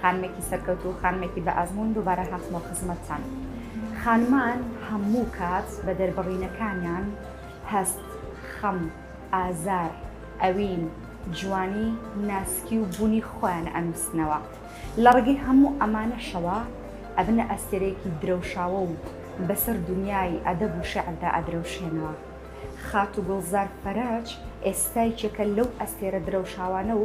خانمێکی سەرکەوتوو و خانمێکی بە ئەزموون دووبارە هاتمەوە خزمەتتان. خانمان هەموو کات بە دەربڕینەکانیان، هەست، خەم، ئازار، ئەوین، جوانی، ناسکی و بوونی خۆیان ئەنووسنەوە. لە ڕێگەی هەموو ئەمانەشەوە ئەبنە ئەستێرەیەکی درەوشاوە و بەسەر دونیای ئەدەب و شێعردا ئەدرەوشێنەوە. خاتوو گوڵزار فەرەج ئێستا یەکێکە لەو ئەستێرە درەوشاوانە و،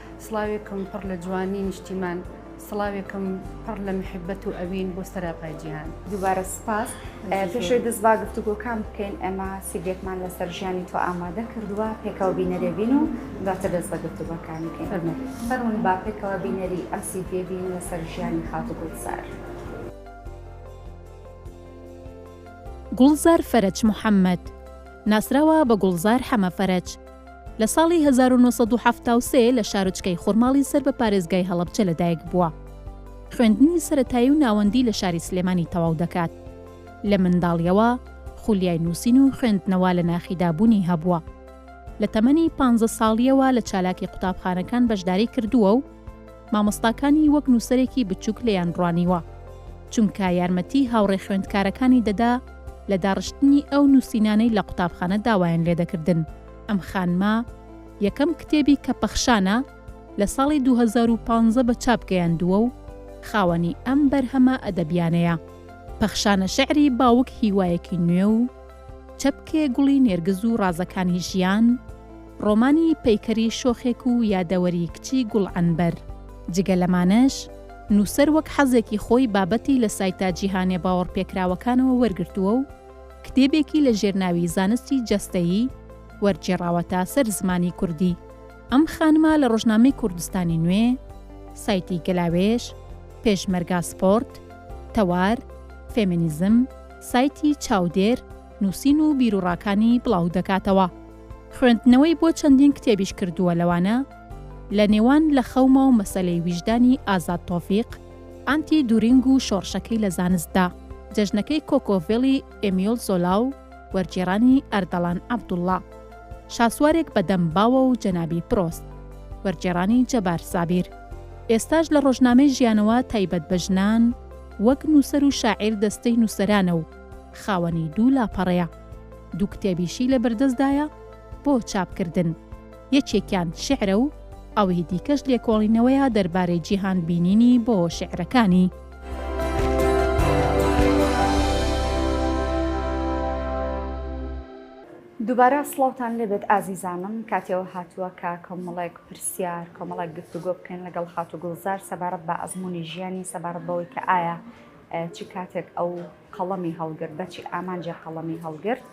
سڵاوێکم پڕ لە جوانی نیشتیمان سڵاوێکم پڕ لە محبەت و ئەوین بۆ سەراپای جیهان دووبارە سپاس پێشوی دەست با گفتوگۆکان بکەین ئەمە سیبێکمان لەسەر ژیانی تۆ ئامادە کردووە پێکەوە بینەرێبین و دواتر دەست بە گفتوگۆکانی کەین فەرمون با پێکەوە بینەری ئەم سیبێ بین لەسەر ژیانی خاتو گوڵزار. گوڵزار فەرەج محەمەد، ناسراوە بە گوڵزار حەمە فەرەج، لە ساڵی هەزار و نۆ سەد و حەفتا و سێ لە شارۆچکەی خورماڵی سەر بە پارێزگای هەڵەبجە لەدایکبووە. خوێندنی سەرەتایی و ناوەندی لە شاری سلێمانی تەواو دەکات. لە منداڵییەوە خولیای نووسین و خوێندنەوە لە ناخیدا بوونی هەبووە. لە تەمەنی پانزە ساڵییەوە لە چالاکی قوتابخانەکان بەشداری کردووە و مامۆستاکانی وەک نووسەرێکی بچووک لێیان ڕوانیوە، چونکە یارمەتیی هاوڕێ خوێندکارەکانی دەدا لە داڕشتنی ئەو نووسینانەی لە قوتابخانە داوایان لێ دەکردن. ئەم خانمە یەکەم کتێبی کە پەخشانە لە ساڵی دوو هەزار و پازدە بە چاپ گەیاندووە و خاوەنی ئەم بەرهەمە ئەدەبییانەیە. پەخشانە شیعری باوک هیوایەکی نوێ و، چەپکێ گوڵی نێرگز و ڕازەکانی ژیان، ڕۆمانی پەیکەری شۆخێک و یادەوەری کچی گوڵعەنبەر. جگە لەمانەش، نووسەر وەک حەزێکی خۆی بابەتی لە سایتە جیهانییە باوەڕپێکراوەکانەوە وەرگرتووە و کتێبێکی لە ژێرناوی زانستی جەستەیی وەرگێڕاوەتە سەر زمانی کوردی. ئەم خانمە لە ڕۆژنامەی کوردستانی نوێ، سایتی گەلاوێژ، پێشمەرگا سپۆرت، تەوار، فێمینیزم، سایتی چاودێر نووسین و بیروڕاکانی بڵاو دەکاتەوە. خوێندنەوەی بۆ چەندین کتێبیش کردووە لەوانە، لە نێوان لە خەوما و مەسەلەی ویژدانی ئازاد تۆفیق، ئانتی دورینگ و شۆڕشەکەی لە زانستدا، جەژنەکەی کۆکۆڤێلی ئێمیۆل زۆلا و وەرگێڕانی ئەردەڵان عەبدوڵڵا، شاسوارێک بە دەم باوە و جەنابی پرۆست، وەرگێڕانی جەبار سابیر. ئێستاش لە ڕۆژنامەی ژیانەوە تایبەت بە ژنان، وەک نووسەر و شاعیر دەستەی نووسەرانە و خاوەنی دوو لاپەڕەیە. دوو کتێبیشی لە بەردەستدایە بۆ چاپکردن، یەکێکیان شیعرە و ئەوی دیکەش لێکۆڵینەوەیە دەربارەی جیهانبینیی بۆ شیعرەکانی. دووبارە سڵاوتان لێبێت ئازیزانم، کاتێ ئەوە هاتووە کە کۆمەڵێک پرس. پرسیار، کۆمەڵێک گفتوگۆ بکەین لەگەڵ خاتوو گوڵزار سەبارەت بە ئەزموونی ژیانی، سەبارەت بەوەی کە ئایا چ کاتێک ئەو قەڵەمی هەڵگرت، بە چی ئامانجێک قەڵەمی هەڵگرت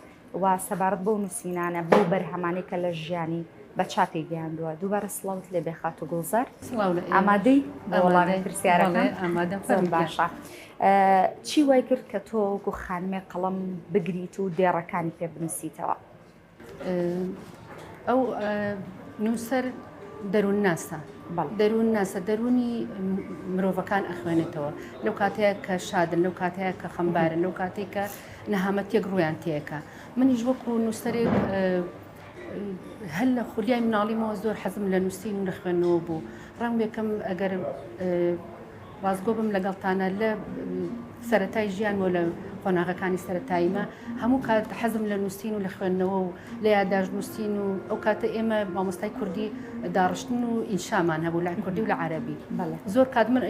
و سەبارەت بەو نووسینانە، بەو بەرهەمانەی کە لە ژیانی بە چاپی گەیاندووە. دووبارە سڵاوت لێ بێ خاتوو گوڵزار. سڵاو لە ئێوەش. ئامادەی بۆ وەڵامی پرسیارەکان؟ بەڵێ، بەڵێ ئامادەم. فەرمووبێ. زۆر باشە. چی وای کرد کە تۆ وەکوو خانمێک قەڵەم بگریت و دێڕەکانی پێ بنووسیتەوە؟ ئەو نووسەر دەروون ناسە دەروون ناسە دەروونی مرۆڤەکان ئەخوێنێتەوە لەو کاتەیە کە شادن لەو کاتەیە کە خەمبارن لەو کاتێک کە نەهامەتێک ڕویان تێەکە منیش وەکو نووسەرێک هەل لە خولیای مناڵیمەوە زۆر حەزم لە نووسین و لە خوێندنەوە بوو ڕەنگێکم ئەگەر ڕاستگۆ بم لەگەڵتانە لە سەرەتای ژیانم و لە قۆناغەکانی سەرەتاییمە هەموو کات حەزم لە نووسین و لە خوێندنەوە و لە یاداشت نووسین و ئەو کاتە ئێمە مامۆستای کوردی داڕشتن و ئینشامان هەبوو لە کوردی و لە عەربی زۆر کات من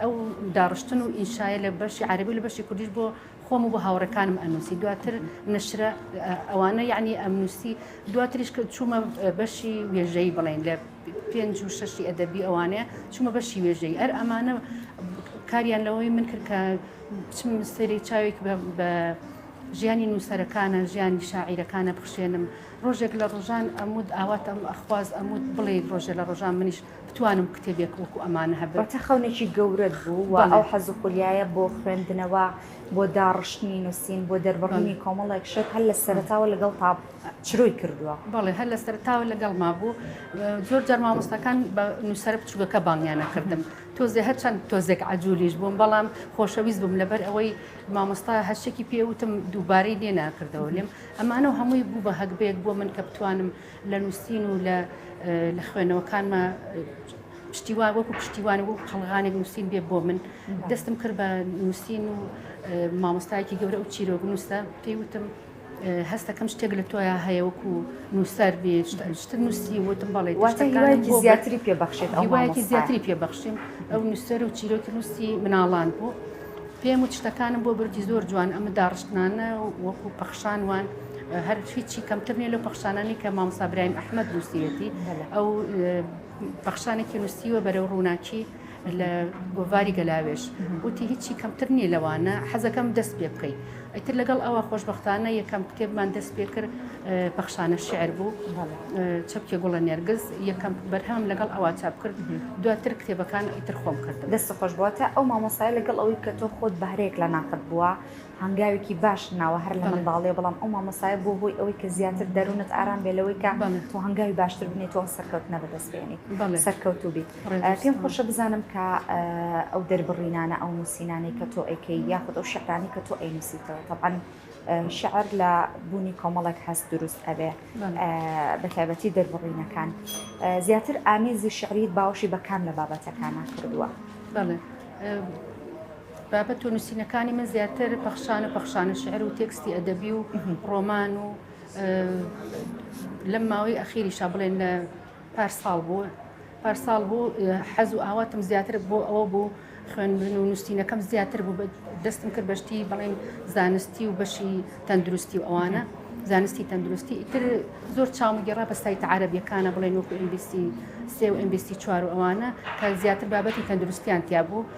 ئەو داڕشتن و ئینشایە لە بەشی عەربی لە بەشی کوردیش بۆ خۆم و بۆ هاوڕەکانم ئەنووسی دواتر نشرە ئەوانە یعنی ئەمنووسی دواتریش کە چوومە بەشی وێژەی بڵێن لە پێنج و شەشی ئەدەبی ئەوانەیە چوومە بەشی وێژەی ئەر ئەمانە کاریان لەوەی من کرد کە بچم سەری چاوێک بە ژیانی نووسەرەکانە ژیانی شاعیرەکانە بخشێنم ڕۆژێک لە ڕۆژان ئەمود ئاوات ئەم ئەخواز ئەمود بڵێ ڕۆژێ لە ڕۆژان منیش بتوانم کتێبێک وەکو ئەمانە هەبێت بەتە خەونێکی گەورەت بوو و ئەو حەز و خولیایە بۆ خوێندنەوە بۆ داڕشتنی نووسین بۆ دەربڕینی کۆمەڵێک شت هەر لە سەرتاوە لەگەڵ تا چرۆی کردووە. بەڵێ هەر لە سەرەتاوە لەگەڵما بوو. زۆر جار مامۆستاکان بە نووسەرە بچووکەکە بانگیان ئەکردم. تۆزێ هەرچەند تۆزێک عەجوولیش بووم، بەڵام خۆشەویست بووم، لەبەر ئەوەی مامۆستا هەر شتێکی پێ ئەوتم دووبارەی لێ ناکردەوە لێم. ئەمانە و هەمووی بوو بە هەگبەیەک بۆ من کە بتوانم لە نووسین و لە لە خوێنەوەکانما پشتیوان وەکوو پشتیوان و وەکوو قەڵغانێک نووسین بێ بۆ من. دەستم کرد بە نووسین و مامۆستایەکی گەورە ئەو چیرۆکنووسە پێی وتم هەستەکەم شتێک لە تۆیا هەیە وەکو نووسەر بێ شتر نووسی وتم بەڵێ واتەکانێکی زیاتری پێ بەخشێت ئەوواکی زیاتری پێ بەخشیم ئەو نووسەر و چیرۆکی نووسی مناڵان بوو پێم و شتەکانم بۆ بردی زۆر جوان ئەمە داڕشتنانە وەکو پەخشان وان هەر هیچی کەمتر نیە لە پەخشانانی کە مامسابرایم ئەحمد نووسیەتی ئەو پەخشانێکی نووسیوە بەرەو ڕووناکی لە گۆڤاری گەلاوێش وتی هیچی کەمتر نییە لەوانە حەزەکەم دەست پێ بکەیت ئەتر لەگەڵ ئەوە خۆشببختانە یەکەم کتێبمان دەست پێ کرد پەخشانە شعر بوو چەپکێ گوڵە نێرگز یەکەم بەرهەم لەگەڵ ئەوە چاپ کرد دواتر کتێبەکان ئیتر خۆم کرد دەست خۆش بووە تا ئەو مامۆسای لەگەڵ ئەوەی کە تۆ خۆت بەهرەیەک لە ناخت بووە هەنگاوێکی باش ناوە هەر لە منداڵێ بەڵام ئەو مامۆسایە بۆ هۆی ئەوەی کە زیاتر دەروونت ئارام بێ لەوەی کە تۆ هەنگاوی باشتر بنێت تۆ سەرکەوت نەبەدەست بێنیت سەرکەوت و بیت. پێم خۆشە بزانم کە ئەو دەربڕینانە ئەو نووسینانەی کە تۆ ئەیکەی یاخود ئەو شعرانی کە تۆ ئەینووسیتەوە تەبان شعر لە بوونی کۆمەڵێک هەست دروست ئەبێ بە تایبەتی دەربڕینەکان زیاتر ئامیزی شعریت باوەشی بە کام لە بابەتەکانە کردووە بابەت و نووسینەکانی من زیاتر پەخشانە پەخشانە شعر و تێکستی ئەدەبی و ڕۆمان و لەم ماوەی ئەخیریشا بڵێن لە پارساڵ بوو پارساڵ بوو حەز و ئاواتم زیاتر بۆ ئەوە بوو خوێندن و نووسینەکەم زیاتر بوو دەستم کرد بەشتی بڵین زانستی و بەشی تەندروستی و ئەوانە زانستی تەندروستی ئیتر زۆر چاوم گەڕا بە سایت عربیەکانە بڵێن وەکو ئینگلیسی سێ و ئینگلیسی چوار و ئەوانە کە زیاتر بابەتی تەندروستیان تیا بوو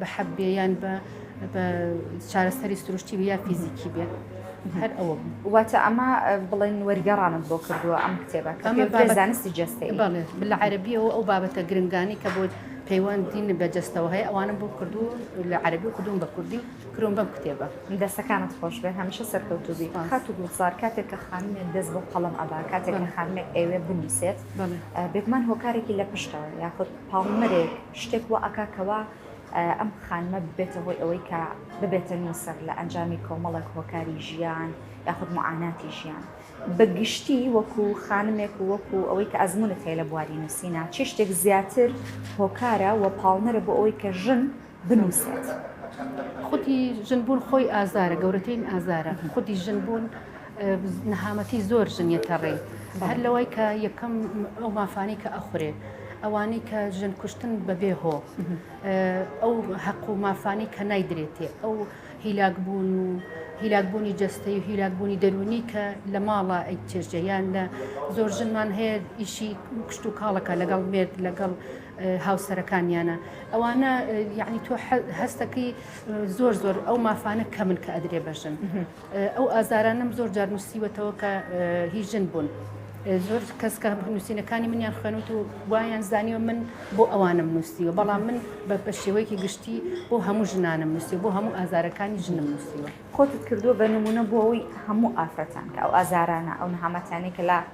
بە حەب بێ یان بە بە چارەسەری سروشتی بێ یا فیزیکی بێ هەر ئەوە بوو. واتە ئەمە بڵێن وەرگێڕانت بۆ کردووە ئەم کتێبە کە ئەمە پێوترێ بابەت- زانستی جەستەی بەڵێ لە عەربیەوە ئەو بابەتە گرنگانی کە بۆ پەیوەندین بە جەستەوە هەیە ئەوانە بۆ کردو لە عەربی و کردوون بە کوردی و کرۆم بەم کتێبە دەستەکانت خۆش بێ هەمیشە سەرکەوتوو بی سپاس. خاتو گوڵزار کاتێک کە خانمێک دەست بۆ قەڵەم ئەبا کاتێک کە بەڵێ. خانمێک ئەوێ بنووسێت بەڵێ. بێگومان هۆکارێکی لە پشتەوە یاخود پاڵنەرێک شتێک وا ئەکا کەوا ئەم خانمە ببێتە هۆی ئەوەی کە ببێتە نووسەر لە ئەنجامی کۆمەڵێک هۆکاری ژیان یاخود معاناتی ژیان بە گشتی وەکو خانمێک و وەکو ئەوەی کە ئەزمونت هەیە لە بواری نووسینا چی شتێک زیاتر هۆکارە و پاڵنەرە بۆ ئەوەی کە ژن بنووسێت؟ خودی ژن بوون خۆی ئازارە، گەورەترین ئازارە خودی ژن بوون، نەهامەتی زۆر ژن یەتە ڕێ هەر لەوەی کە یەکەم ئەو مافانەی کە ئەخورێ ئەوانەی کە ژن کوشتن بەبێ هۆ ئەو هەق و مافانی کە نایدرێتێ ئەو هیلاکبوون و هیلاکبوونی جستەی و هیلاکبوونی دەرونی کە لە ماڵە ئەی چێژە یان لە زۆر ژنمان هەیە ئیشی کوشت و کاڵەکە لەگەڵ مێرد لەگەڵ هاوسەرەکانیانە ئەوانە یعنی تۆ هەستەکەی زۆر زۆر ئەو مافانە کەمن کە ئەدرێ بەژن ئەو ئازارانەم زۆر جار نووسیوەتەوە کە هی ژن بوون. زۆر کەس کە نووسینەکانی منیان خوێنوت و وایان زانیوە من بۆ ئەوانم نووسیوە بەڵام من بە شێوەیەکی گشتی بۆ هەموو ژنانم نووسی بۆ هەموو ئازارەکانی ژنم نووسیوە خۆتت کردووە بە نمونە بۆ ئەوەی هەموو ئافرەتان کە ئەو ئازارانە ئەو نەهامەتیانەی کە لە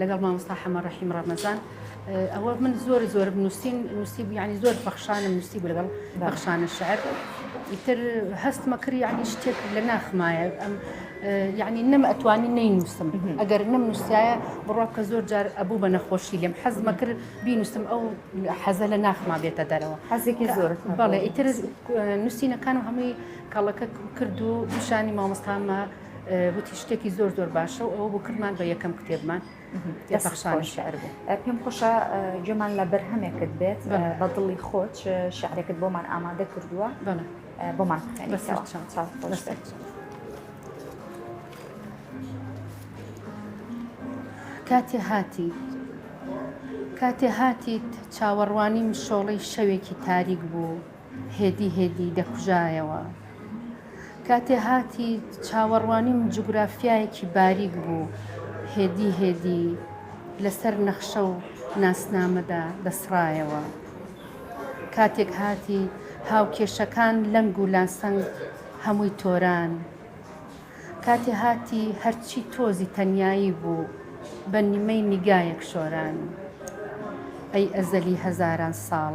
لەگەڵ مامۆستا حەمە ڕەحیم ڕەمەزان ئەوە من زۆر زۆر نووسین نووسی بیانی زۆر پەخشانم نووسی بوو لەگەڵ بەخشانە شعر ئیتر هەستمە کرد یعنی شتێک لە ناخمایە ئەم یعنی نەم ئەتوانی نینووسم ئەگەر نەم نووسایە بڕوا کە زۆر جار ئەبوو بە نەخۆشی لێم حەزمە کرد بینووسم ئەو حەزە لە ناخما بێتە دەرەوە حەزێکی زۆر بەڵێ ئیتر نووسینەکانم هەمووی کاڵەکە کرد و پیشانی مامۆستامە وتی شتێکی زۆر زۆر باشە و ئەوە بۆ کردمان بە یەکەم کتێبمان پەخشان شعر بوو پێم خۆشە جێمان لە بەرهەمێکت بێت بە دڵی خۆت شعرێکت بۆمان ئامادە کردووە بۆمان بخێنەوە چاو خۆش بێت. کاتێ هاتی کاتێ هاتیت چاوەڕوانی مشۆڵی شەوێکی تاریک بوو. هێدی هێدی دەکوژایەوە. کاتێ هاتی چاوەڕوانیم جوگرافیایەکی باریک بوو، هێدی هێدی لەسەر نەخشە و ناسنامەدا دەسڕایەوە. کاتێک هاتی هاوکێشەکان لەنگ و لاسەنگ هەمووی تۆران. کاتێ هاتی هەرچی تۆزی تەنیایی بوو بە نیمەی نیگایەک شۆران. ئەی ئەزەلی هەزاران ساڵ!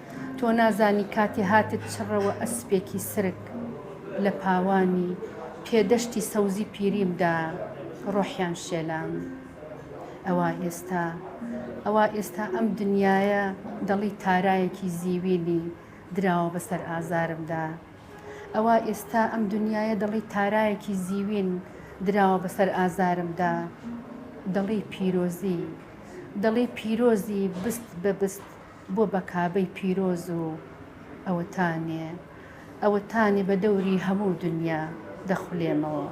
تۆ نازانی کاتی هاتت چڕەوە ئەسپێکی سرک لە پاوانی پێ دەشتی سەوزی پیریم دا ڕۆحیان شێلام ئەوا ئێستا ئەوا ئێستا ئەم دنیایە دەڵی تارایەکی زیوینی دراوە بەسەر ئازارمدا ئەوا ئێستا ئەم دنیایە دەڵی تارایەکی زیوین دراوە بەسەر ئازارمدا دەڵی پیرۆزی دەڵی پیرۆزی بست بە بست بۆ بە کابەی پیرۆز و ئەوەتانێ ئەوەتانێ بە دەوری هەموو دنیا دەخولێمەوە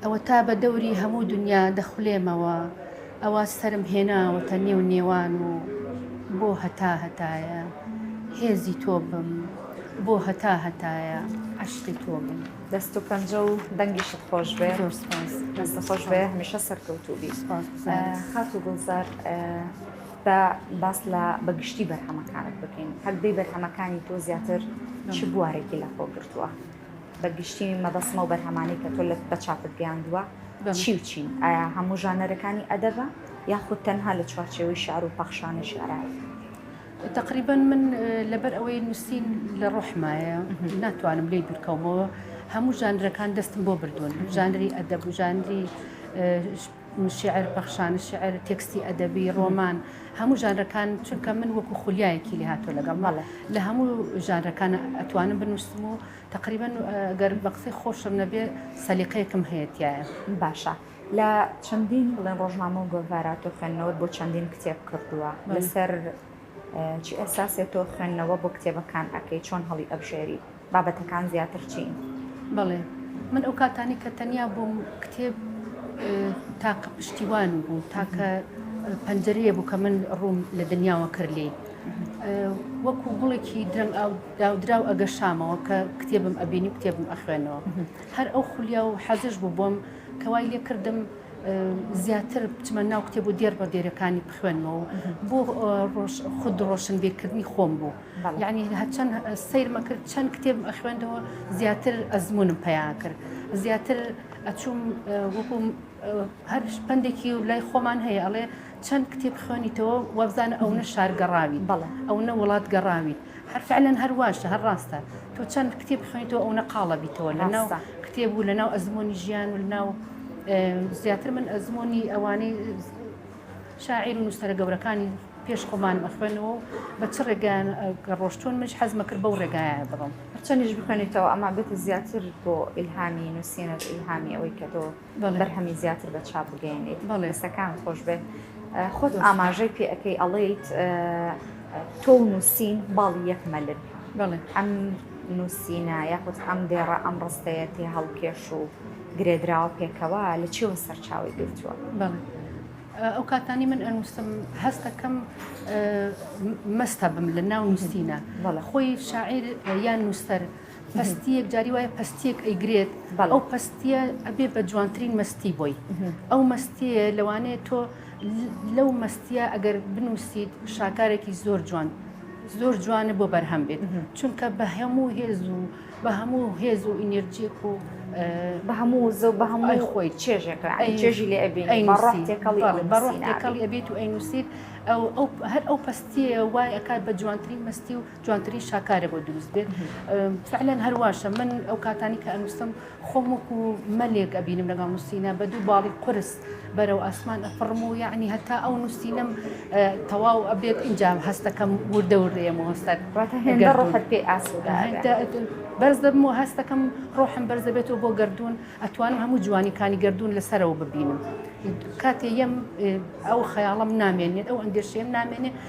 ئەوەتا بە دەوری هەموو دنیا دەخولێمەوە ئەوە سەرم هێناوەتە نێو نێوان و بۆ هەتا هەتایە هێزی تۆ بم بۆ هەتا هەتایە عەشقی تۆ بم دەست و پەنجە و دەنگیشت خۆش بێ دەست خۆش بێ هەمیشە سەرکەوتوبی خات و گوڵزار بە باس لە بەگشتی بەرهەمەکانت بکەین هەردەی بەرهەمەکانی تۆ زیاتر چ بوارێکی لە خۆ گرتووە بە گشتی مەبەسمە و بەرهەمانی کە تۆ لە بە چاپت گەیاندووە چی و چین ئایا هەموو ژانەرەکانی ئەدەبە یاخود تەنها لە چوارچێوەی شار و پەخشانی شارایەکە تەقریبەن من لەبەر ئەوەی نووسین لە ڕۆحمایە ناتوانم لێی دوورکەومەوە هەموو ژانرەکان دەستم بۆ بردوون ژانری ئەدەب و ژانری شعر پەخشان شعر تێکستی ئەدەبی ڕۆمان هەموو ژانرەکان چونکە من وەکو خولیایەکی لێ هاتۆ لەگەڵ مەڵە لە هەموو ژانرەکان ئەتوانم بنووسم و تقریبا گەرم بە قسەی خۆشم نەبێ سەلیقەیەکم هەیەتیایە باشە. لە چەندین بڵێن ڕۆژنامە و گۆڤارا تۆ خوێندنەوەت بۆ چەندین کتێب کردووە لەسەر چی ئەساسێ تۆ خوێندنەوە بۆ کتێبەکان ئەەکەی چۆن هەڵی ئەبژێری بابەتەکان زیاتر چین بڵێ من ئەو کاتانی کە تەنیا بووم کتێب تاکە پشتیوان بوو تاکە پەنجەرەیە بوو کە من ڕووم لە دنیاوە کرد لێ وەکو گوڵێکی درەنگ ئاو داودراو ئەگەشامەوە کە کتێبم ئەبینی کتێبم ئەخوێنەوە هەر ئەو خولیا و حەزش بوو بۆم کە وای لێ کردم زیاتر بچمە ناو کتێب و دێر بە دێرەکانی بخوێنمەوە بۆ خود ڕۆشنبیرکردنی خۆم بوو یعنی هەچەند سیرمە کرد چەند کتێب خوێندەوە زیاتر ئەزمونم پیان کرد زیاتر ئەچوم وەکوم هەر پندێکی و لای خۆمان هەیە ئەڵێ چەند کتێب خوێنیتەوە وابزانە ئەونە شار گەڕاویت بەڵێ ئەونە وڵات گەڕاویت هەر فعلەن هەر واشە هەر ڕاستە تۆ چەند کتێب خوێنیتەوە ئەونە قاڵە بیتەوە لەناو ڕاستە کتێب و لەناو ئەزموونی ژیان و لەناو زیاتر من ئەزموونی ئەوانەی شاعیر و نووسەرە گەورەکانی پێش خۆمانم ئەخوێنەوە و بە چ ڕێگایان کە ڕۆشتون منش حەزمە کرد بەو ڕێگایە بڕۆم هەرچەندیش بخوێنیتەوە ئەما بێتە زیاتر بۆ ئیلهامی نووسینت ئیلهامی ئەوەی کە تۆ بەرهەمی زیاتر بە چاپ بگەێنیت بەڵێستەکان خۆش بێت خۆت ئاماژەی پێ ئەەکەی ئەڵیت تۆ نووسین باڵی یەک مەلن بڵێ ئەم نووسینە یاخود ئەم دێڕە ئەم ڕستەیە تێ هەڵکێش و گرێدراوە پێکەوە لە چێوە سەرچاوی گرتووە بڵێ ئەو کاتانی من ئەنووسم هەستەکەم مەستە بم لە ناو نووسینە بەڵە خۆی شاعیر یان نووسەر پەستیەک جاری وایە پەستیەک ئەیگرێت ئەو پەستیە ئەبێ بە جوانترین مەستی بۆی ئەو مەستیە لەوانەیە تۆ لەو مەستیە ئەگەر بنووسیت شاکارێکی زۆر جوان زۆر جوانە بۆ بەرهەم بێت چونکە بە هەموو هێز و بە هەموو هێز و ئینێرجیک و بە هەموو زە بە هەمووی خۆی چێژێک چێژی لێ بەڕێکەڵی ئەبێت و ئەینوسیت ئەو هەر ئەو پستیە وای ئەکات بە جوانترین مستی و جوانترین شاکارە بۆ دروست بێت فعلەن هەرواشە من ئەو کاتانی کە ئەنووسم خۆم وەکو مەلێک ئەبینم لەگەڵ نووسینە بە دوو باڵی قرس بەرەو ئاسمان ئەفڕم و یعنی هەتا ئەو نووسینم تەواو ئەبێت اینجا هەستەکەم وردە وردەیەم و هەستەت ڕۆحت پێ ئاسودا بەرز دەبم و هەستەکەم ڕۆحم بەرز دەبێتەوە بۆ گردردون ئەتوانم هەموو جوانیکانی گردردون لەسەرەوە ببینم کاتێ یەم ئەو خەیاڵم نامێنێت ئەو ئەندێشەیەم نامێنێت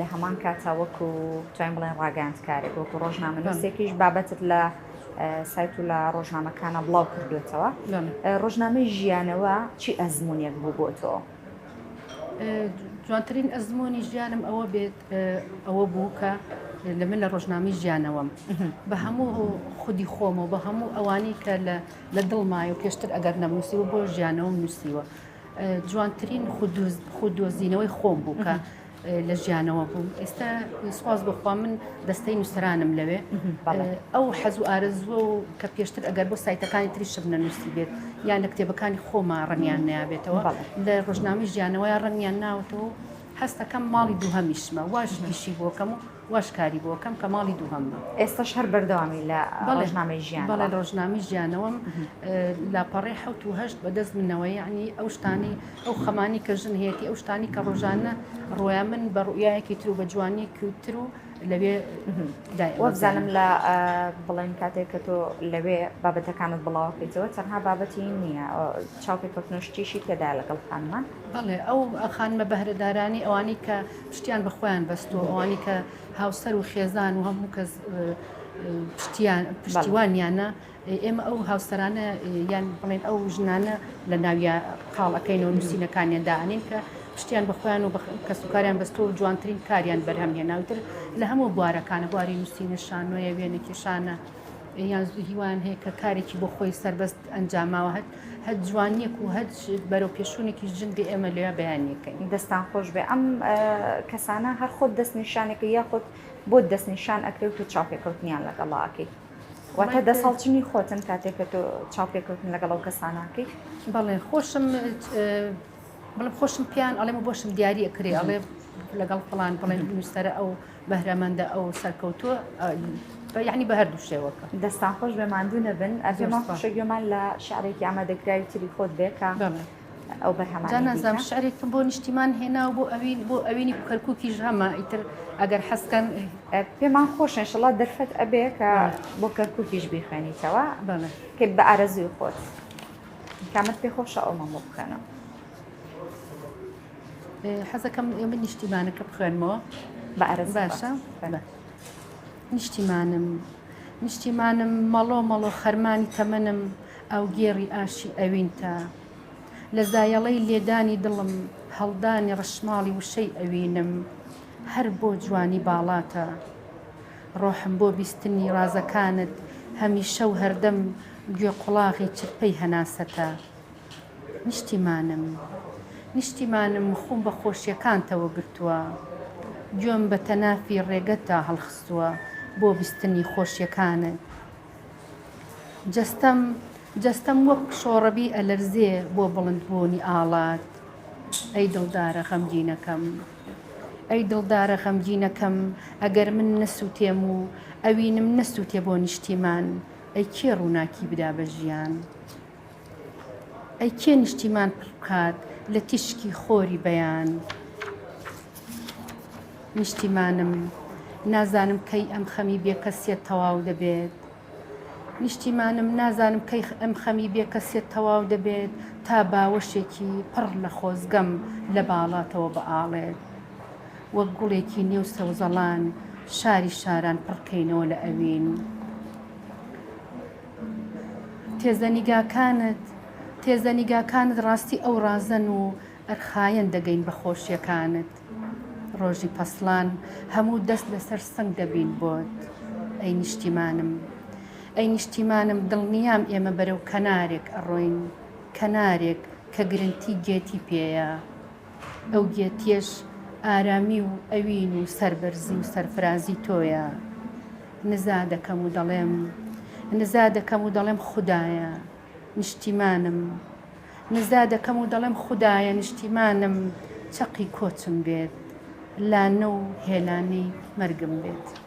لە هەمان کاتا وەکو توانین بڵێن ڕاگەاندکارێک وەکو ڕۆژنامەنووسێکیش بابەتت لە سایت و لە ڕۆژنامەکانە بڵاو کردوێتەوە ڕۆژنامەی ژیانەوە چی ئەزمونونێک بوو بۆ تۆ؟ جوانترین ئەزمموی ژیانم ئەوە بێت ئەوە بوو کە لە من لە ڕۆژنامی ژیانەوەم بە هەموو خودی خۆمەوە بە هەموو ئەوانەی کە لە دڵمای و پێشتر ئەگەر نەموسی و بۆ ژیانەوەم نووسیوە جوانترین خود دۆزینەوەی خۆم بوو کە لە ژیانەوە بووم ئێستا سواز بخوا من دەستەی نووسرانم لەوێ ئەو حەز و ئارزوە و کە پێشتر ئەگەر بۆ سایتەکانی تری شم نەنووسی بێت یان لە کتێبەکانی خۆما ڕنیان نابێتەوە لە ڕژنامی ژیانەوەی ڕنیان ناوتەوە هەستەکەم ماڵی دووهمیشمە واش پیشی بۆکەم و واش کاری بۆ کەم کە ماڵی دووهەممە. ئێستەش هەر بەردەوامی لە ڕۆژنامەی ژیان؟ بەڵێ لە ڕۆژنامەی ژیانەوەم لاپەڕەی حەوت و هەشت بەدەست منەوە یەعنی ئەو شتانەی ئەو خەمانەی کە ژن هەیەتی ئەو شتانی کە ڕۆژانە ڕۆیان من بە ڕوئایەکی تر و بە جوانیەکی تر و لەوێ وابزانم لە بڵێن کاتێک کە تۆ لەوێ بابەتەکانت بڵاوکەیتەوە تەنها بابەتی نییە چاوپێکەوتنشتیشی تێدا لەگەڵ خانمان بڵێ ئەو خانمە بەهرەدارانی ئەوانی کە پشتیان بە خۆیان بەستووە ئەوانی کە هاوسەر و خێزان و هەموو کەس پشتیوانیانە ئێمە ئەو هاوسەرانە یان بڵێن ئەو ژنانە لە ناویان قاڵەکەین و نووسینەکانیان دانین کە پشتیان بەخۆیان و کەس و کاریان بەستۆ و جوانترین کاریان بەرهەم هێناوتر لە هەموو بوارەکانە بواری نووسینە شانۆیە وێنە کێشانە یان هیوان هەیە کە کارێکی بۆ خۆی سەربەست ئەنجاماوە هەر هەچ جوانیەک و هەچ بەرەو پێشونێکیش جل دێ ئێمە لێ بەیانەکەین. دەستان خۆش بێ ئەم کەسانە هەر خۆت دەست نیشانێکە یاخۆت بۆت دەست نیشان ئەکرێت و تۆ چاوپێکەوتنیان لەگەڵا ئەکەیت واتە دەست هەڵچنی خۆتن کاتێک کە تۆ چاوپێکەوتن لەگەڵ ئەو کەساناکەیت بەڵێن خۆشم بڵم خۆشم پیان ئەڵێمە بۆشم دیاری ئەکرێ ئەڵێ لەگەڵ فڵان بڵێن نووسەرە ئەو بەهرەمەندە ئەو سەرکەوتووە یعنی بە هەردوو شێوەکە دەستان خۆش بێ ماندوو نەبن ئەرێمان خۆشە گوێمان لە شعرێکی ئەمە دەکراوی تری خۆت بێکە ئەو بەرهەمانزم شعرێکم بۆ نیشتیمان هێنا و بۆ ئەوین بۆ ئەوینی کەرکووکیش هەمە ئیتر ئەگەر حەستکەن پێمان خۆشن شڵات دەرفەت ئەبێ کە بۆ کەرکووکیش بیخوێنیتەوە کە بە ئارەزوی خۆت کامت پێ خۆشە ئەومەمە بکەنەوە حەزەکەم ئێمە نیشتیمانەکە بخوێنمەوە بە عرب باشە نیشتیمانم نیشتیمانم مەڵۆ مەڵۆ خەرمانی تەمەنم ئەو گێڕی ئاشی ئەوینتە لە زایەڵەی لێدانی دڵم هەڵدانی ڕشماڵی وشەی ئەوینم هەر بۆ جوانی باڵاتە ڕۆحم بۆ بیستنی ڕازەکانت هەمیشە و هەردەم گوێ قوڵاغی چرپەی هەناسەتە نیشتیمانم نیشتیمانم خوم بە خۆشیەکانتەوە گرتوە گوێم بە تەنافی ڕێگەتدا هەڵخستوە بۆ بیستنی خۆشیەکانت جەستەم جەستەم وەک شۆڕەبی ئەلەرزێ بۆ بڵند بوونی ئاڵات ئەی دڵدارە غەمگینەکەم ئەی دڵدارە غەمگینەکەم ئەگەر من نەسووتێم و ئەوینم نەسووتێ بۆ نیشتیمان ئەی کێ ڕووناکی بدا بە ژیان؟ ئەی کێ نیشتیمان پڕ بکات لە تیشکی خۆری بەیان؟ نیشتیمانم نازانم کەی ئەم خەمی بێکەسیەت تەواو دەبێت نیشتیمانم نازانم کەی ئەم خەمی بێکەسیەت تەواو دەبێت تا باوەشێکی پڕ لە خۆزگەم لە باڵاتەوە بەئاڵێت وەک گوڵێکی نێو سەوزەڵان شاری شاران پڕکەینەوە لە ئەوین. تێزە نیگاکانت تێزە نیگاکانت ڕاستی ئەو ڕازەن و ئەرخایەن دەگەین بە خۆشیەکانت ڕۆژی پەسڵان هەموو دەست لەسەر سنگ دەبین بۆت ئەی نیشتیمانم ئەی نیشتیمانم دڵنیام ئێمە بەرەو کەنارێک ئەڕۆین کەنارێک کە گرنتی گێتی پێیە ئەو گێتیەش ئارامی و ئەوین و سەربەرزی و سەرفرازی تۆیە نزا دەکەم و دەڵێم نزا دەکەم و دەڵێم خودایە نیشتیمانم نزا دەکەم و دەڵێم خودایە نیشتیمانم چەقی کۆچم بێت لانە و هێلانەی مەرگم بێت.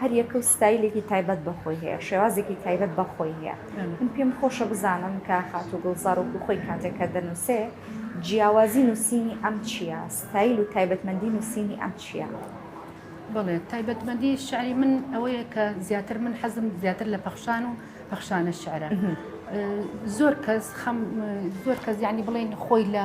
هەر یەکە و ستایلێکی تایبەت بە خۆی هەیە، شێوازێکی تایبەت بە خۆی هەیە. من پێم خۆشە بزانم کە خاتوو گوڵزار وەکوو خۆی کاتێک کە دەنووسێ، جیاوازی نووسینی ئەم چییە؟ ستایل و تایبەتمەندی نووسینی ئەم چییە؟ بەڵێ، تایبەتمەندی شعری من ئەوەیە کە زیاتر من حەزم زیاتر لە پەخشان و پەخشانە شعرە. زۆر کەس خەم زۆر کەس یعنی بڵێن خۆی لە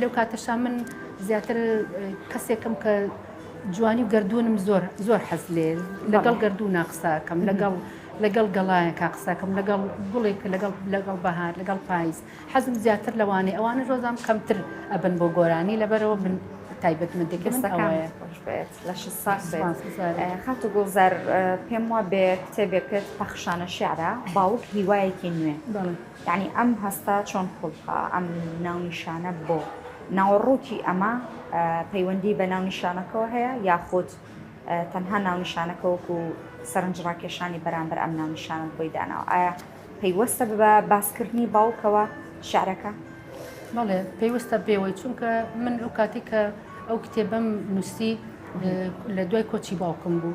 لەو کاتەشا من زیاتر کەسێکم کە جوانی و گردوونم زۆر زۆر حەز لێ لەگەڵ گردوونا قساکەم لەگەڵ لەگەڵ گەڵایەکە قسەکەم لەگەڵ گوڵێک لەگەڵ لەگەڵ بەهار لەگەڵ پایز حەزم زیاتر لەوانێ ئەوانە ژۆزام کەمتر ئەبن بۆ گۆرانی لەبەرەوە من تایبەت من دەکەستەکانێت لە خات و گوڵزار پێم وا بێ کتێبێکت پەخشانە شعرە باوک هیوایەکی نوێ. یەعنی ئەم هەستە چۆن قوڵپە؟ ئەم ناونیشانە بۆ؟ ناوەڕۆکی ئەمە پەیوەندیی بە ناونیشانەکەوە هەیە یاخود تەنها ناونیشانەکە وەکو سەرنجڕاکێشانی بەرامبەر ئەم ناونیشانەت بۆی داناوە؟ ئایا پەیوەستە بە باسکردنی باوکەوە شیعرەکە؟ بەڵێ پەیوەستە پێوەی، چونکە من لەو کاتێک کە ئەو کتێبەم نووسی لە دوای کۆچی باوکم بوو.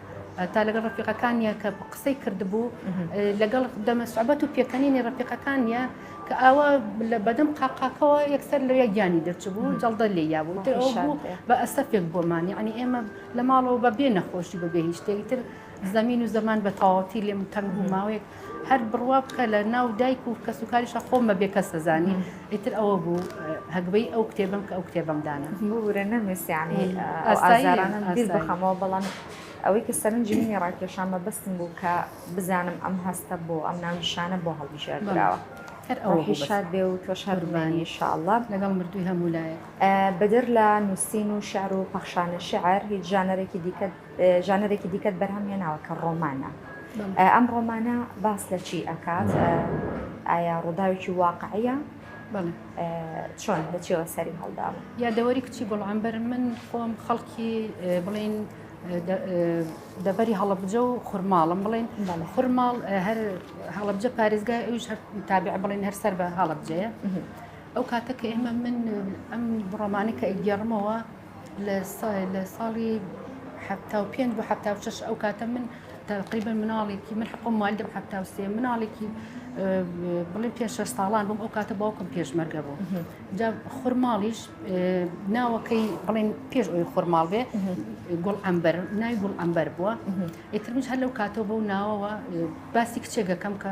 تا لەگەڵ ڕفیقەکانە کە قسەی کردبوو لەگەڵ دەمە سوعبەت و پێکەنینی ڕفیقەکانە کە ئاوا لە بەدەم قاقاکەوە یەکسەر لەوێ گیانی دەرچبوو جەڵدە لێ یابوو بە ئەسەفێک بۆمان یعنی ئێمە لە ماڵەوە بە بێ نەخۆشی بە بێ هیچ شتێکتر زمین و زەمان بە تەواوەتی لێم تەنگ و ماوەیەک هەر بڕوا بکە لە ناو دایک و کەس و کاریشە خۆم بە بێکەس دەزانی ئیتر ئەوە بوو هەگبەی ئەو کتێبم کە ئەو کتێبم دانا بورە نەمێسیانی بخەمەوە بەڵام ئەوەی کە سەرنجی منی ڕاکێشان مەبەستم بوو کە بزانم ئەم هەستە بۆ ئەم ناونیشانە بۆ هەڵبژێردراوە. هەر ئەو شاد بێ و تۆش هەرمانی شاڵە لەگەڵ مردووی هەموو لایە بەدەر لە نووسین و شار و پەخشانە شعر هیچ ژانەرێکی دیکە ژانەرێکی دیکەت بەرهەم هێناوە کە ڕۆمانە ئەم ڕۆمانە باس لە چی ئەکات ئایا ڕووداوێکی واقعە چۆن لە چێوە سەری هەڵدا یادەوەری کچی گوڵامبەر من خۆم خەڵکی بڵین دەبەری هەڵبجە و خورماڵم بڵێن خورماڵ هەر هەڵبجە پارێزگای ئەوش هەر تابع بڵێن هەر سەر بە هەڵبجەیە ئەو کاتە کە ئێمە من ئەم بڕۆمانی کە ئەگەڕمەوە لە لە ساڵی حەفتا و پێنج بۆ حەفتا و شەش ئەو کاتە من تقریبا مناڵێکی من حقم مالدم حەفتا و سێ مناڵێکی بڵێ پێ شەش ساڵان بووم ئەو کاتە باوکم پێشمەرگە بوو جا خورماڵیش ناوەکەی بڵێن پێش ئەوی خورماڵ بێ گوڵ ئەمبەر نای گوڵ ئەمبەر بووە ئیترمیش هەر لەو کاتەوە بەو ناوەوە باسی کچێگەکەم کە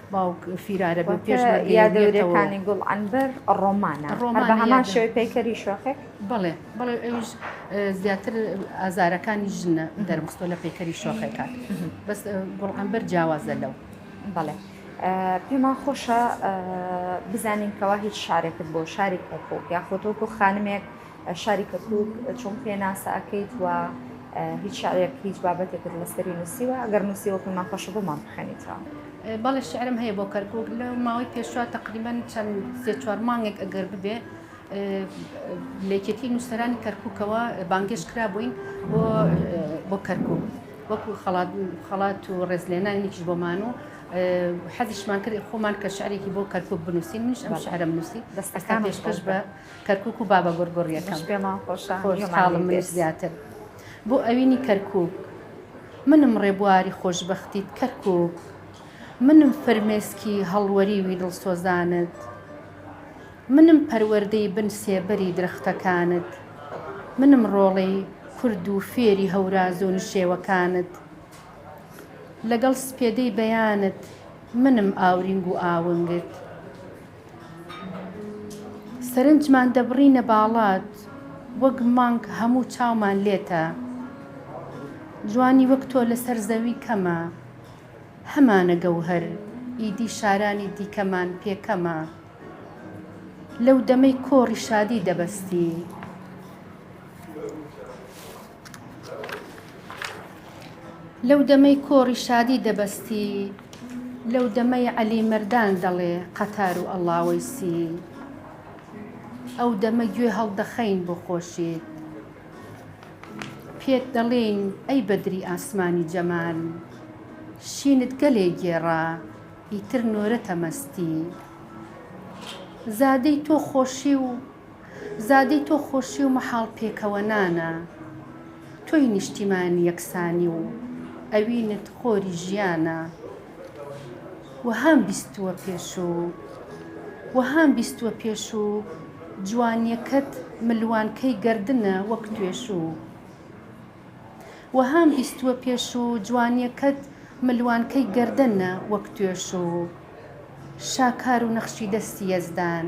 باوک فیرارە بێ پێش مەرگی بێتەوە. واتە یادەوەرییەکانی گوڵعەنبەر ڕۆمانە. ڕۆمانە یادەوەرییەکانی. هەر بە هەمان شێوەی پەیکەری شۆخێک؟ بەڵێ بەڵێ ئەویش زیاتر ئازارەکانی ژنە دەربستۆ لە پەیکەری شۆخێکان. بەس گوڵعەنبەر جیاوازە لەو. بەڵێ پێمان خۆشە بزانین کەوا هیچ شعرێکت بۆ شاری کەرکوک یاخود وەکو خانمێک، شاری کەرکوک چۆن پێناسە ئەکەیت و هیچ شعرێک هیچ بابەتێکت لەسەری نووسیوە ئەگەر نووسیوە پێمان خۆشە بۆمان بخەنیتەوە بەڵێ شعرم هەیە بۆ کەرکوک لە ماوەی پێشوا تقریبان چەند سێ چوار مانگێک ئەگەر ببێ لەکێتی نووسەرانی کەرککەوە بانگێش کرا بووین بۆ کەرکک وەکو خڵات خڵات و ڕێزلێنانێکیش بۆمان و حەزیشمان کرد خۆمان کە شعرێکی بۆ کەرکک بنووسین منش ئەم شعرم نووسی دەستەکان پێشکەش بە کەرکوک و بابە گوڕگوڕیەکەم خۆشحاڵم منیش زیاتر بۆ ئەوینی کەرکوک منم ڕێبواری خۆشببختیت کەرکوک منم فرمێسکی هەڵوەری وی دڵسۆزانت منم پەروەردەی بن سێبەری درەختەکانت منم ڕۆڵەی کورد و فێری هەوراز و نشێوەکانت لەگەڵ سپێدەی بەیانت منم ئاورینگ و ئاونگت سەرنجمان دەبڕینە باڵات وەک مانگ هەموو چاومان لێتە جوانی وەک تۆ لەسەر زەوی کەمە هەمانە گەوهەر ئیدی شارانی دیکەمان پێ کەمە لەو دەمەی کۆڕی شادی دەبەستی. لەو دەمەی کۆڕی شادی دەبەستی لەو دەمەی عەلی مەردان دەڵێ قەتار و ئەڵاوەیسی ئەو دەمە گوێ هەڵدەخەین بۆ خۆشیت پێت دەڵێین ئەی بەدری ئاسمانی جەمال شینت گەلێ گێڕا ئیتر نۆرەتە مەستی زادەی تۆ خۆشی و زادەی تۆ خۆشی و مەحاڵ پێکەوەنانە تۆی نیشتیمانی یەکسانی و ئەوینت خۆری ژیانە وەهام بیستووە پێش و وەهام بیستووە پێش و جوانیەکەت ملوانکەی گەردنە وەک توێشوو وەهام بیستووە پێش و جوانیەکەت ملوانکەی گەردنە وەک توێشوو شاکار و نەخشی دەستی یەزدان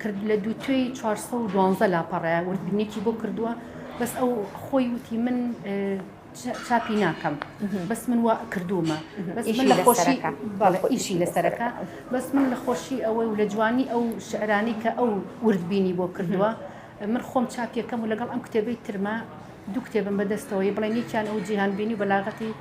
کرد لە دووتوێی چوار سەد و دوازدە لاپەڕە وردبینێکی بۆ کردووە بەس ئەو خۆی وتی من چاپی ناکەم بەس من وا کردوومە ئیشی لەسەرەکە بەس من لە خۆشی ئەوەی و لە جوانی ئەو شعرانی کە ئەو وردبینی بۆ کردووە من خۆم چاپیەکەم و لەگەڵ ئەم کتێبەی ترما دوو کتێبم بەدەستەوەی بڵێن یەکیان ئەو جیهانبینی و بەلاغەتی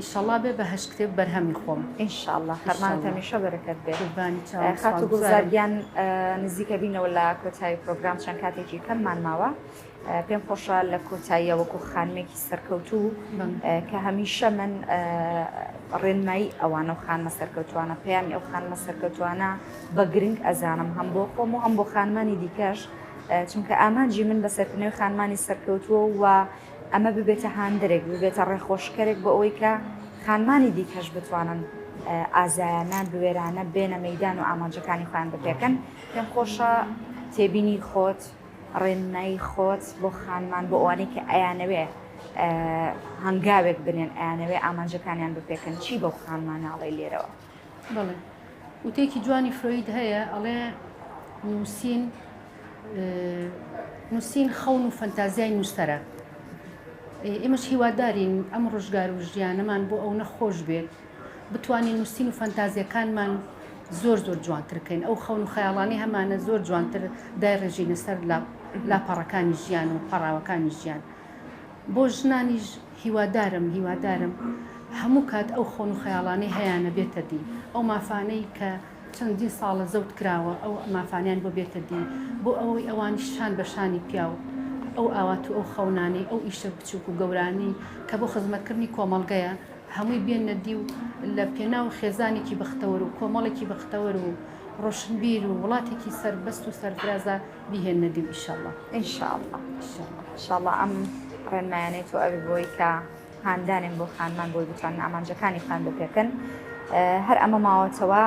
ئیشەڵا بێ بە هەشت کتێب بەرهەمی خۆم. ان شاء اللە خەرمانت هەمیشە بەرەکەت بێ. قوربانی چاوت خاتوو گوڵزار گیان نزیکە بینەوە لە کۆتایی پرۆگرام چەند کاتێکی کەممان ماوە پێم خۆشە لە کۆتاییە وەکو خانمێکی سەرکەوتوو کە هەمیشە من ڕێنمایی ئەوانە و خانمە سەرکەوتوانە پەیامی ئەو خانمە سەرکەوتوانە بە گرنگ ئەزانم هەم بۆ خۆم و هەم بۆ خانمانی دیکەش چونکە ئامانجی من بە سەرکردنەوەی خانمانی سەرکەوتووە و ئەمە ببێتە هاندەرێک، ببێتە ڕێخۆشکەرێک بۆ ئەوەی کە خانمانی دیکەش بتوانن ئازایانە، بوێرانە بێنە مەیدان و ئامانجەکانی خۆیان بپێکن. پێم خۆشە تێبینی خۆت، ڕێنمایی خۆت بۆ خانمان، بۆ ئەوانەی کە ئەیانەوێ هەنگاوێک بنێن، ئەیانەوێ ئامانجەکانیان بپێکن، چی بەو خانمانە ئەڵێی لێرەوە؟ بەڵێ وتەیەکی جوانی فرۆید هەیە ئەڵێ نووسین نووسین خەون و فەنتازیای نووسەرە ئێمەش هیوادارین ئەم ڕژگار و ژیانەمان بۆ ئەو نەخۆش بێت بتوانین نووسین و فەنتازیەکانمان زۆر زۆر جوانترکەین ئەو خەون و خەیاڵانی هەمانە زۆر جوانتر دای ڕێژینە سەر لاپەڕەکانی ژیان و پەڕاوەکانی ژیان بۆ ژنانیش هیوادارم هیوادارم هەموو کات ئەو خۆن و خەیاڵانەی هەیانە بێتە دی، ئەو مافانەی کە چەندین ساڵە زەوت کراوە ئەو مافانەیان بۆ بێتە دی، بۆ ئەوەی ئەوانیش شان بە شانی پیاو ئەو ئاوات و ئەو خەونانەی ئەو ئیشە بچووک و گەورانەی کە بۆ خزمەتکردنی کۆمەڵگەیە هەمووی بێننە دی و لە پێناو خێزانێکی بەختەوەر و کۆمەڵێکی بەختەوەر و ڕۆشنبیر و وڵاتێکی سەربەست و سەرفرازا بیهێننە دیو ئیشەڵا. ان شاء اللە ان شاء اللە ئەم ڕێنمایانەی تۆ ئەبێ بۆی کە هاندانێن بۆ خانمان بۆی بتوانن ئامانجەکانی خۆیان بۆ پێکەن هەر ئەمە ماوەتەوە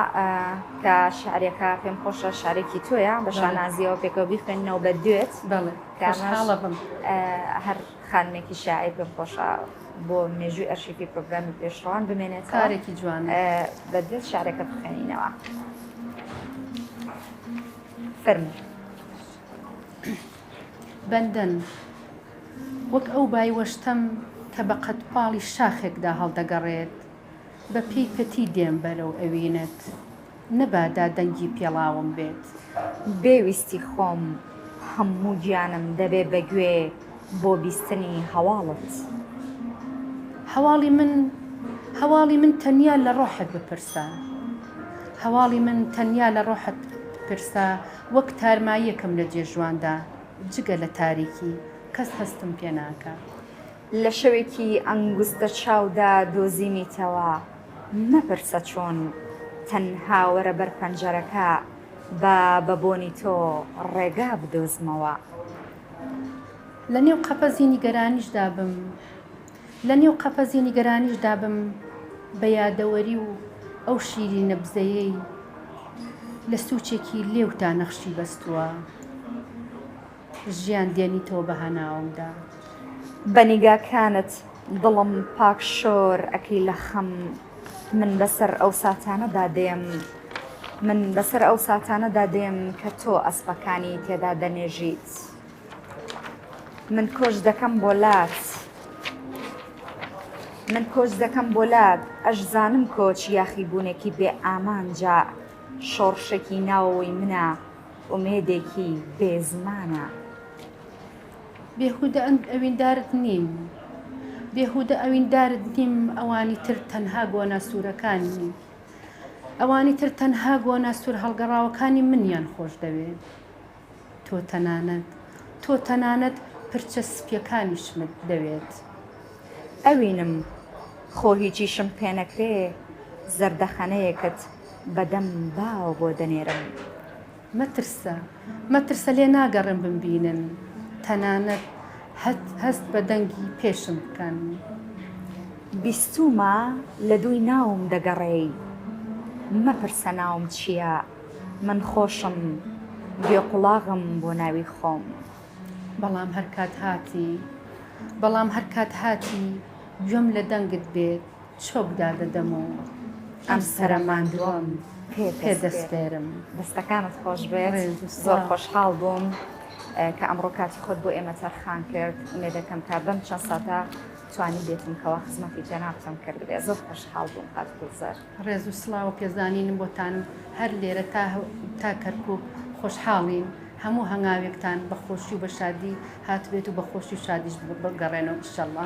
کە شعرەکە پێم خۆشە شارێکی تۆیە بە شانازیەوە پێکەوە بیخوێنەوە بە دوێت کامەڵە بم هەر خانمێکی شاعیر پێم خۆشە بۆ مێژووی ئەرشیفی پرۆگرامی پێشڕوان بمێنێت کارێکی جوان بە دوێت شارەکە بخێنینەوە. فەرموو. بەندەن وەک ئەو بای وەشتەم کە بە قەدپاڵی شاخێکدا هەڵدەگەڕێت، بە پێی پەتی دێم بەرەو ئەوینت، نەبادا دەنگی پێڵاوم بێت. بێ ویستی خۆم هەموو گیانم دەبێ بە گوێ. بۆ بیستنی هەواڵت. هەواڵی من هەواڵی من تەنیا لە ڕۆحت بپرسە هەواڵی من تەنیا لە ڕۆحت بپرسە وەک تارماییەکم لە جێژواندا جگە لە تاریکی کەس هەستم پێ ناکا. لە شەوێکی ئەنگوستە چاودا دۆزیمیتەوە مەپرسە چۆن تەنها وەرە بەر پەنجەرەکە با بە بۆنی تۆ ڕێگا بدۆزمەوە. لە نێو قەفەزی نیگەرانیشدا بم لە نێو قەفەزی نیگەرانیشدا بم بە یادەوەری و ئەو شیری نەبزەیەی لە سوچێکی لێوتا نەخشی بەستووە ژیان دێنیتەوە بە هەناومدا. بە نیگاکانت دڵم پاک شۆر ئەکەی لە خەم. من بەسەر ئەو ساتانەدا دێم من بەسەر ئەو ساتانەدا دێم کە تۆ ئەسپەکانی تێدا دەنێژیت من کۆچ دەکەم بۆ لات من کۆچ دەکەم بۆ لات ئەشزانم کۆچ یاخی بوونێکی بێ ئامانجا شۆڕشێکی ناوەوەی منە ئومێدێکی بێزمانە. بێهودە ئەویندارت نیم بێهودە ئەویندارت نیم ئەوانی تر تەنها گۆنا سورەکانی ئەوانی تر تەنها گۆنا سور هەڵگەڕاوەکانی منیان خۆش دەوێ تۆ تەنانەت تۆ تەنانەت پرچە سپیەکانیشمت دەوێت ئەوینم خۆ هیچیشم پێ نەکرێ زەردەخەنەیەکت بە دەم باوە بۆ دەنێرم. مەترسە مەترسە لێ ناگەڕێم بمبینن تەنانەت هەست بە دەنگی پێشم بکەن. بیستوومە لە دووی ناوم دەگەڕێی مەپرسە ناوم چییە من خۆشم گوێ قوڵاغم بۆ ناوی خۆم. بەڵام هەرکات هاتی بەڵام هەرکات هاتی گوێم لە دەنگت بێت. چۆک دادەدەم و ئەم سەرە ماندووەم پێ دەسپێرم. دەستەکانت خۆش بێت، زۆر خۆشحاڵ بووم کە ئەمڕۆ کاتی خۆت بۆ ئێمە تەرخان کرد، ئومێدەکەم کە بەم چەند ساتە توانیبێتم کەوا خزمەتی جەنابتم کردبێ، زۆر خۆشحاڵ بووم کاک گوڵزار. ڕێز و سڵاو و پێزانینم بۆتان هەر لێرە تا کەرکووک، خۆشحاڵین هەموو هەنگاوێکتان بە خۆشی و بە شادی هاتبێت و بە خۆشی و شادیش بگەڕێنەوە ئیشەڵڵا.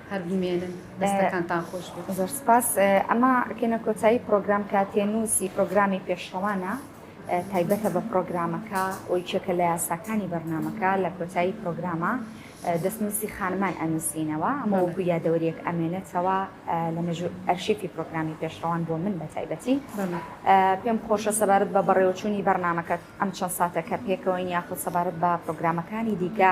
هەر بمێنن دەستەکانتان خۆش بێت. زۆر سپاس. ئەمە کەینە کۆتایی پرۆگرام کاتێنووسی پرۆگرامی پێشڕەوانە تایبەتە بە پرۆگرامەکە و یەکێکە لە یاساکانی بەرنامەکە لە کۆتایی پرۆگرامە دەستنووسی خانمان ئەنووسینەوە ئەمە وەکو یادەوەریەک ئەمێنێتەوە لە مێژوو ئەرشیفی پرۆگرامی پێشڕەوان بۆ من بە تایبەتی پێم خۆشە سەبارەت بە بەڕێوەچوونی بەرنامەکەت ئەم چەند ساتە کە پێکەوەین یاخود سەبارەت بە پرۆگرامەکانی دیکە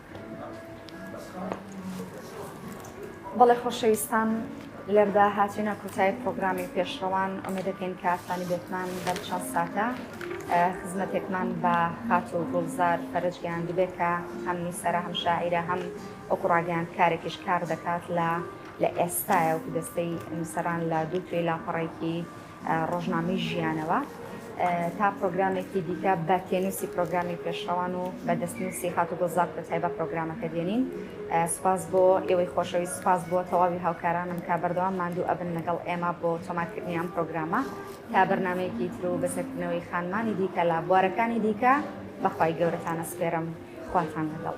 بەڵێ خۆشەویستان لێردا هاتوینە کۆتایی پرۆگرامی پێشڕەوان ئۆمێدەکەین کە ئاسانی بێتمان بەر چەند ساتە خزمەتێکمان بە خات و گوڵزار فەرجگەیان دبێت کە هەم نووسرە هەم شاعیرە هەم وەکو ڕاگەیان کارێکیش کار دەکات لە لە ئێستایە و دەستەی نووسران لە دوو توێی لاپەڕێکی ڕۆژنامەی ژیانەوە تا پرۆگرامێکی دیکە بە تێنووسی پرۆگرامی پێشڕەوان و بە دەستنووسی هاتوگۆ زاپ کۆتای بە پرۆگرامەکە دێنین سپاس بۆ ئێوەی خۆشەوی سپاس بۆ تەواوی هاوکارانم کە بەردەوام ماندوو ئەبن لەگەڵ ئێمە بۆ تۆمارکردنی ئەم پرۆگرامە تا بەرنمەیەکی تر و بەسەرکردنەوەی خانمانی دیکە لە بوارەکانی دیکە بەخوای گەورەتانە سپێرم خواتان لەگەڵ.